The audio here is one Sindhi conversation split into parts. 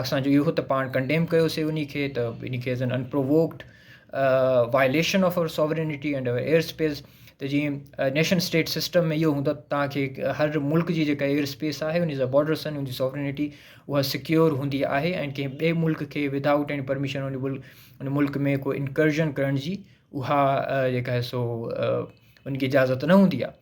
اسان جو اهو ته پاڻ ڪنڊيم ڪيوسي انهي کي ته انهي کي as an unprovoked violation of our sovereignty and our air space ته جيئن نيشن اسٽيٽ سسٽم ۾ اهو هوندو تان کي هر ملڪ جي جيڪا ايئر اسپيس آهي انهي جا بارڊرس آهن انهي سوورينٽي اها سڪيور هوندي آهي ۽ ڪنهن ٻئي ملڪ کي ود آئوٽ ايني پرميشن انهي ملڪ انهي ملڪ ۾ ڪو انڪرجن ڪرڻ جي اها جيڪا سو انهي کي اجازت نه هوندي آهي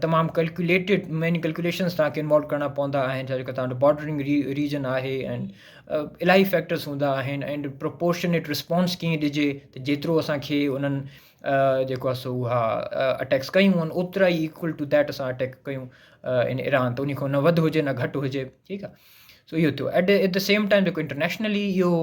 تمام ڪلڪيوليٽيڊ ميني ڪلڪيوليشنس توهان کي انوالو ڪرڻا پوندا آهن ڇا جو ڪا توهان جو بارڊرنگ ري ريجن آهي اينڊ الاهي فيڪٽرس هوندا آهن اينڊ پروپورشنيٽ رسپانس ڪيئن ڏجي ته جيترو اسان کي انهن جيڪو آهي سو اها اٽيڪس ڪيون آهن اوترا ئي ايڪول ٽو ديٽ اسان اٽيڪ ڪيون ان ايران ته ان کان نه وڌ هجي نه گهٽ هجي ٺيڪ آهي سو اهو ٿيو ايٽ د سيم ٽائم جيڪو انٽرنيشنلي اهو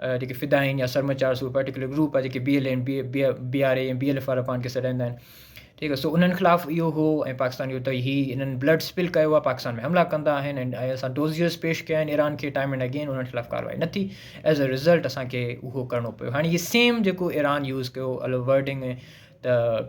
جيڪي فدائين يا سرمچار سو پرٽيڪولر گروپ آهي جيڪي B L N B B R A ۽ B L F وارا پاڻ کي سڏائيندا آهن ٺيڪ آهي سو انهن خلاف اهو هو ۽ پاڪستان جو تئي هي انهن بلڊ اسپل ڪيو آهي پاڪستان ۾ حملا ڪندا آهن ۽ اسان ڊوزيئرس پيش ڪيا آهن ايران کي ٽائم اينڊ اگين انهن خلاف ڪارروائي نه ٿي ايز ا رزلٽ اسانکي اهو ڪرڻو پيو هاڻي هي سيم جيڪو ايران يوز ڪيو الو ورڊنگ ته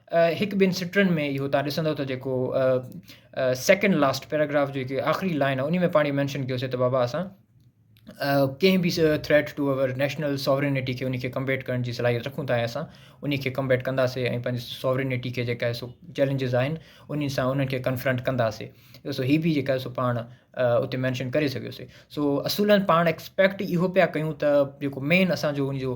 هڪ ٻن سٽرن ۾ اهو تان ڏسندو ته جيڪو سيڪنڊ لاسٽ پيراگراف جي جيڪي آخري لائن آهي ان ۾ پاڻي مينشن ڪيو سي ته بابا اسان ڪنهن به threat to our national sovereignty کي ان کي ڪمبيٽ ڪرڻ جي صلاحيت رکون ٿا ۽ اسان ان کي ڪمبيٽ ڪنداسي ۽ پنهنجي ساورينٽي کي جيڪا سو چيلنجز آهن انهن سان انهن کي ڪنفرنٽ ڪنداسي سو هي به جيڪا سو پاڻ اتي مينشن ڪري سگهيوسي سو اصولن پاڻ ايڪسپيڪٹ اهو پيا ڪيون ته جيڪو مين اسانجو ان جو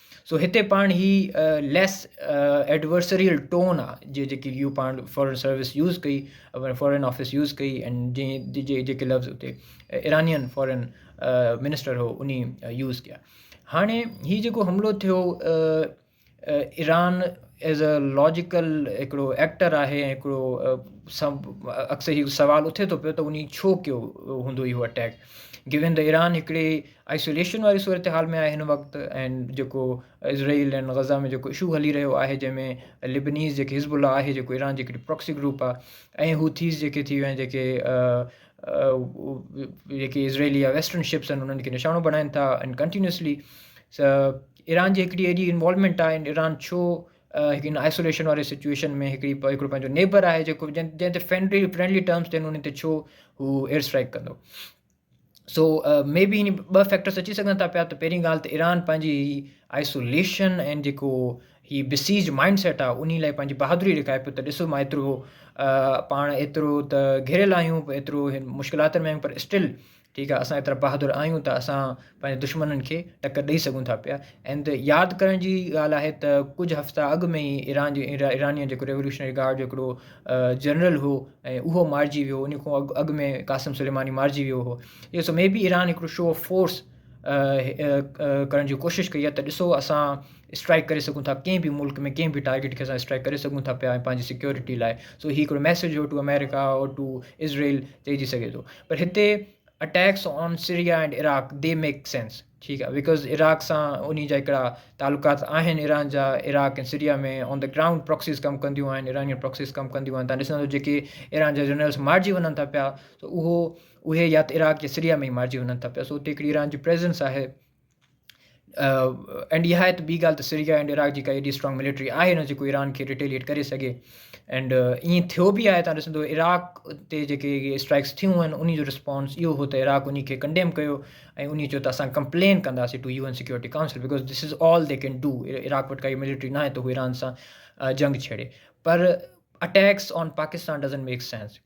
سو هتي پاڻ هي ليس ايڊورسريل ٽون آ جي جيڪي يو پاڻ فارن سروس يوز ڪئي فارن آفيس يوز ڪئي اينڊ جي جي جيڪي لفظ اتي ايرانين فارن منسٽر هو اني يوز ڪيا هاڻي هي جيڪو حملو ٿيو ايران ايز اي لاجيڪل هڪڙو ايڪٽر آهي هڪڙو اڪثر هي سوال اٿي ٿو پيو ته اني ڇو ڪيو هوندو اهو اٽيڪ گيون ته ايران هڪڙي آئسوليشن واري صورتحال ۾ آهي هن وقت ۽ جيڪو اسرائيل ۽ غزه ۾ جيڪو اشو هلي رهيو آهي جنهن ۾ لبنيز جيڪي حزب الله آهي جيڪو ايران جي هڪڙي پراڪسي گروپ آهي ۽ هوٿيز جيڪي ٿي ويا آهن جيڪي جيڪي اسرائيلي يا ويسٽرن شپس آهن انهن کي نشانو بڻائن ٿا ۽ ڪنٽينيوسلي ايران جي هڪڙي اهڙي انوالومينٽ آهي ايران ڇو هڪ ان آئسوليشن واري سچويشن ۾ هڪڙي هڪڙو پنهنجو نيبر آهي جيڪو جنهن جنهن تي فرينڊلي فرينڊلي ٽرمس تي ان تي ڇو هو ايئر اسٽرائڪ ڪندو سو مي بي هن ٻه فيڪٽرس اچي سگهن ٿا پيا ته پهرين ڳالهه ته ايران پنهنجي هي آئسوليشن ۽ جيڪو هي بسيج مائنڊ سيٽ آهي انهي لاء پنهنجي بهادري ڏيکاري پيو ته ڏسو مان ايترو پاڻ ايترو ته گهيريل آهيون ايترو مشڪلاتن ۾ آهيون پر اسٽل ٺيڪ آهي اسان ايترا بهادر آهيون ته اسان پنهنجن دشمنن کي ٽڪر ڏئي سگهون ٿا پيا اند ياد ڪرڻ جي ڳالهه آهي ته ڪجهه هفتا اڳ ۾ ئي ايران جي ايرانين جيڪو ريوليوشنري گارڊ جو هڪڙو جنرل هو ۽ اهو مارجي ويو ان کان اڳ اڳ ۾ قاسم سليماني مارجي ويو هو اهو سو مي بي ايران هڪڙو شو آف فورس ڪرڻ جي ڪوشش ڪئي آهي ته ڏسو اسان اسٽرائڪ ڪري سگهون ٿا ڪنهن به ملڪ ۾ ڪنهن به ٽارگيٽ کي اسان اسٽرائڪ ڪري سگهون ٿا پيا ۽ پنهنجي سيڪيورٽي لاء سو هي هڪڙو ميسج هو to America or to Israel چئجي سگهي ٿو پر هتي attacks on Syria and Iraq they make sense ٺيڪ آهي بڪاز عراق سان انهي جا هڪڙا تعلقات آهن عراق جا Iraq ۽ Syria ۾ on the ground proxies ڪم ڪنديون آهن ايرانيون پراڪسيز ڪم ڪنديون آهن تان ڏسندو جيڪي ايران جا جنرلس مارجي وڃن ٿا پيا سو اهو اهي يا ته عراق يا سريا ۾ ئي مارجي وڃن ٿا پيا سو اتي هڪڙي ايران جي پريزنس آهي اينڊ اها آهي ته ٻي ڳالهه ته سريا اينڊ عراق جي ڪا ايڏي اسٽرانگ ملٽري آهي نه جيڪو ايران کي ريٽيليٽ ڪري سگهي اينڊ ائين ٿيو بي آهي تان ڏسندو عراق تي جيڪي اسٽرائڪس ٿيون آهن ان جو رسپانس اهو هو ته عراق ان کي ڪنڊيم ڪيو ۽ ان چيو ته اسان ڪمپلين ڪنداسي to U N security council because this is all they can do Iraq وٽ ڪائي ملٽري ناهي ته هو ايران سان جنگ ڇيڙي پر attacks on Pakistan doesn't make sense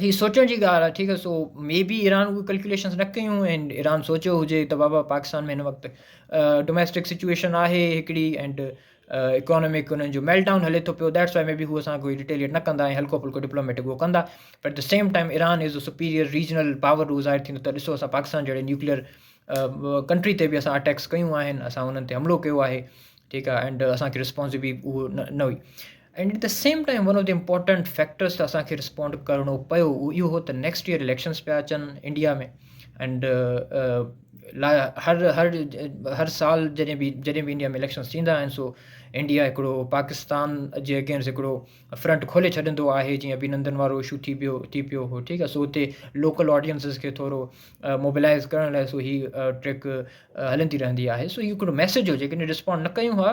هي سوچڻ جي ڳالهه آهي ٺيڪ آهي سو مي بي ايران اهي ڪلڪيوليشنز نه ڪيون ۽ ايران سوچيو هجي ته بابا پاڪستان ۾ هن وقت ڊوميسٽڪ سچويشن آهي هڪڙي اينڊ اڪانومڪ انهن جو ميلٽ ڊائون هلي ٿو پيو ديٽس واء مي بي هو اسان کوئي ريٽيليٽ نه ڪندا ۽ هلڪو ڦلڪو ڊپلوميٽڪ هو ڪندا پر at the same time Iran as a superior regional power هو ظاهر ٿيندو ته ڏسو اسان پاڪستان جهڙي نیوڪليئر ڪنٽري تي بي اسان اٽيڪس ڪيون آهن اسان انهن تي حملو ڪيو آهي ٺيڪ آهي اينڊ اسانکي ريسپانس بي هو نه هئي and at the same time one of the important factors ته اسان کي رسپونڊ ڪرڻو پيو اهو اهو هو ته نيڪسٽ ايئر اليڪشنس پيا اچن انڊيا ۾ اينڊ لا هر هر هر سال جڏهن بي جڏهن بي انڊيا ۾ اليڪشنس ٿيندا آهن سو انڊيا هڪڙو پاڪستان جي اگينسٽ هڪڙو فرنٽ کولي ڇڏندو آهي جيئن بي نندن وارو اشو ٿي پيو ٿي پيو هو ٺيڪ آهي سو هتي لوڪل آڊينسز کي ٿورو موبلائز ڪرڻ لاء سو هي ٽريڪ هلندي رهندي آهي سو هي هڪڙو ميسج هو جيڪڏهن رسپونڈ نه ڪيون هئا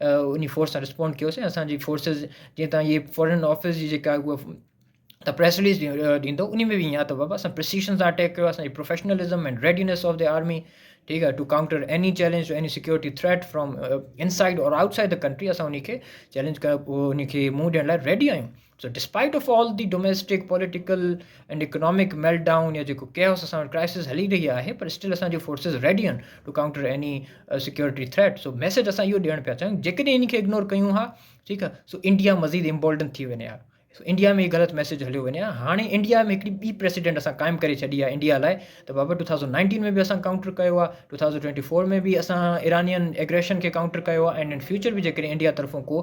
انهي فورس سان رسپونڊ ڪيوسين اسان جي فورسز جيئن تان اهي فارن آفيس جي جيڪا هو ته پريس رليز ڏيندو انهي ۾ به اهي آهي بابا اسان پرسيشن سان اٽيڪ ڪيو اسان جي professionalism and readiness of the army ٺيڪ آهي to counter any challenge any security threat from inside or outside the country اسان انهي کي چيلينج ڪيو انهي کي منهن ڏيڻ لاء ريڊي آهيون so despite of all the domestic political and economic meltdown يا جيڪو ڪيئوس اسان وٽ ڪرائسس هلي رهي آهي پر اسٽل اسان جون فورسز ريڊي آهن to counter any security threat so message اسان اهو ڏيڻ پيا چاهيون جيڪڏهن انهن کي اگنور ڪيون ها ٺيڪ آهي سو انڊيا مزيد امبولڊن ٿي وڃي ها سو انڊيا ۾ هي غلط ميسيج هليو وڃي ها هاڻي انڊيا ۾ هڪڙي ٻي پريسيڊنٽ اسان قائم ڪري ڇڏي آهي انڊيا لاء ته بابا ٽو ٿاؤزنڊ نائنٽين ۾ به اسان ڪائونٽر ڪيو آهي ٽو ٿاؤزنڊ ٽوئنٽي فور ۾ به اسان ايرانين ايگريشن کي ڪائونٽر ڪيو آهي اينڊ ان فيوچر به جيڪڏهن انڊيا طرفون ڪو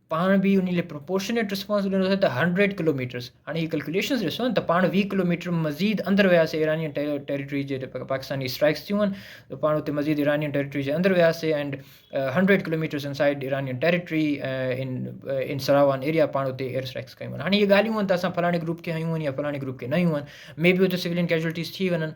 پاڻ به انهي لاء پروپورشنيٽ رسپانس ڏنو اٿن ته هنڊريڊ ڪلوميٽرس هاڻي هي ڪلڪوليشنس ڏسو ته پاڻ ويهه ڪلوميٽر مزيد اندر وياسي ايرانين ٽيريٽري جي پاڪستاني اسٽرائڪس ٿيون هن ته پاڻ اتي مزيد ايرانين ٽيريٽري جي اندر وياسي and hundred kilometres inside Iranian territory in in Saravan area پاڻ اتي ايئر اسٽرائڪس ڪيون هاڻي هي ڳالهيون هن ته اسان فلاڻي گروپ کي هيون يا فلاڻي گروپ کي نه هيون مي بي اتي سولين ڪيجوئلٽيز ٿي وڃن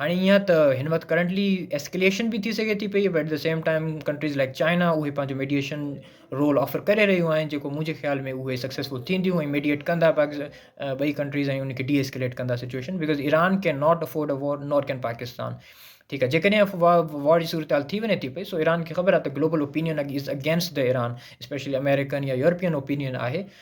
هاڻي ايئن آهي ته هن وقت ڪرنٽلي ايسڪليشن به ٿي سگهي ٿي پئي but at the same time countries like China اهي پنهنجو ميڊيئيشن رول آفر ڪري رهيون آهن جيڪو منهنجي خيال ۾ اهي سڪسيسفل ٿينديون ۽ ميڊيئيٽ کندا پاڪستان ٻئي ڪنٽريز ۽ ان کي ڊي ايسڪليٽ ڪندا situation because Iran can not afford a war not can Pakistan ٺيڪ آهي جيڪڏهن وار جي صورتحال ٿي وڃي ٿي پئي سو ايران کي خبر آهي ته global opinion against the Iran especially American يا يورپين اوپينين آهي